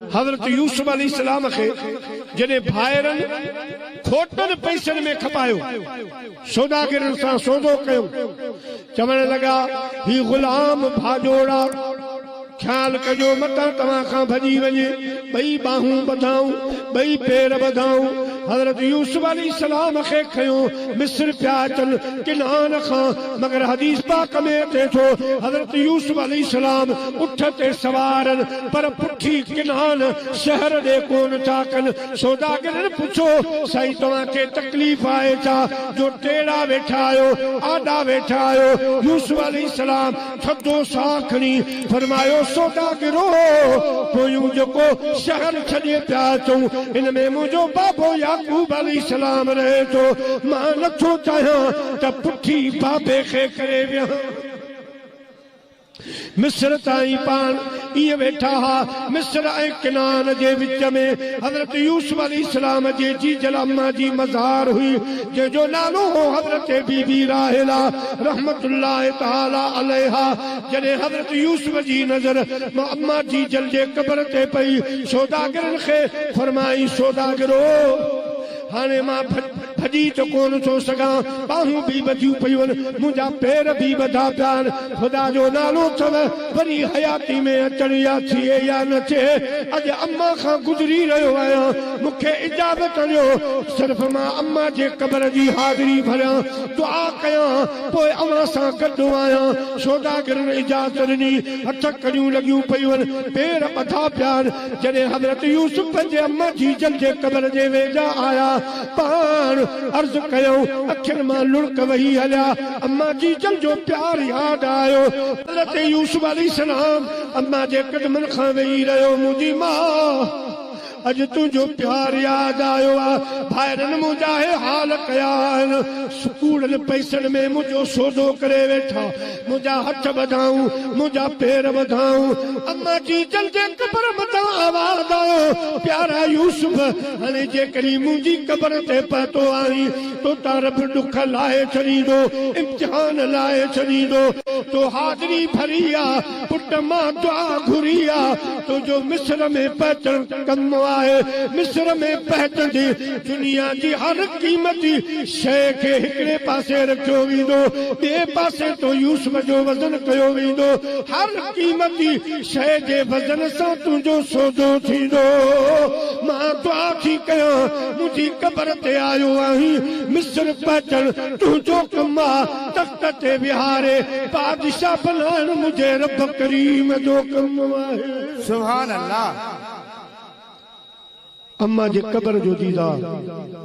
حضرت يوسف عليه السلام کي جڏهن ڀائرن کوٽن پئسن ۾ کپايو، سوداگرن سان سودو ڪيو، چوڻ لڳا، هي غلام ڀاڄوڙا، خيال ڪجو متان توهان کان ڀڄي وڃي، ٻئي ٻانهون ٻڌائون، ٻئي پير ٻڌائون، حضرت يوسف عليه السلام کي کنيو مصر پيا اچن، ڪنعان کان، مگر حديث پاڪ ۾ اچي ٿو، حضرت يوسف عليه السلام اٺ تي سوارن، پر پٺي ڪنھان شهر ڏي ڪون ٿا ڪن. سوداگرن پڇيو، سائين توهان کي تڪليف آهي ڇا جو ٽيڙا ويٺا آهيو، آڏا ويٺا آهيو. يوسف عليه السلام ٿڌو ساھ کڻي فرمايو، سوداگرو! پويون جيڪو شهر ڇڏي پيا اچون، ان ۾ منھنجو بابو يعقوب عليه السلام رهي ٿو. مان نٿو چاهيان ته پٺي بابي کي ڪري ويهان. مصر تائين پاڻ ائين ويٺا ها. مصر ۽ ڪنعان جي وچ ۾ حضرت يوسف عليه السلام جي جيجل اما جي مزار هئي، جنهن جو نالو هو حضرت بي بي راحيلا رحمة الله تعالٰي عليها. جڏهن حضرت يوسف جي نظر اما جيجل جي قبر تي پئي، سوداگرن کي فرمائين سوداگرو! هاڻي مان ڀڄي ته ڪونه ٿو سگهان، ٻانهون به ٻڌيون پيون، منهنجا پير به ٻڌا پيا آهن، خدا جو نالو اٿم، وري حياتي ۾ اچڻ يا ٿئي يا نه ٿئي، اڄ امان کان گذري رهيو آهيان، مون کي اجازت ڏيو، صرف مان امان جي قبر جي حاضري ڀريان، دعا ڪيان، پوء اوهان سان گڏ آهيان. سوداگرن اجازت ڏني، هٿ ڪڙيون لڳيون پيون، پير ٻڌا پيا آهن، جڏهن حضرت يوسف پنهنجي اما جيجل جي قبر جي ويجها آيا، پاڻ عرض ڪيائون، اکين مان لڙڪ وهي هليا، اما جيجل جو پيار ياد آيو، حضرت يوسف عليه السلام اما جي قدمن کان ويهي رهيو، منهنجي ماء! اڄ تنهنجو پيار ياد آيو آ، ڀائرن منهنجا هي حال ڪيا آهن، سڪوڙن پئسن ۾ منهنجو سودو ڪري ويٺا. منهنجا هٿ وڌائون، منهنجا پير وڌائون، اما جي جن جي قبر مٿان آواز آيو، پيارا يوسف! هاڻي جيڪڏهن منهنجي قبر تي پهتو آهين، تو تان رب ڏک لاهي ڇڏيندو، امتحان لاهي ڇڏيندو. تو حاضري ڀري آ، پٽ مان دعا گهري آ، تو جو مصر ۾ پهچڻ ڪم آهي، مصر ۾ پهچجي، دنيا جي هر قيمتي شيء کي هڪڙي پاسي رکيو ويندو، ٻئي پاسي تون يوسف جو وزن ڪيو ويندو، هر قيمتي شيء جي وزن سان تنهنجو سودو ٿيندو. مان دعا ٿي ڪيان، منهنجي قبر تي آيو آهين، مصر پهچڻ تنهنجو ڪم آ، تخت تي ويهاري بادشاهه بنائڻ منهنجي رب ڪريم جو ڪم آهي. سبحان الله. اما جي قبر جو ديدار.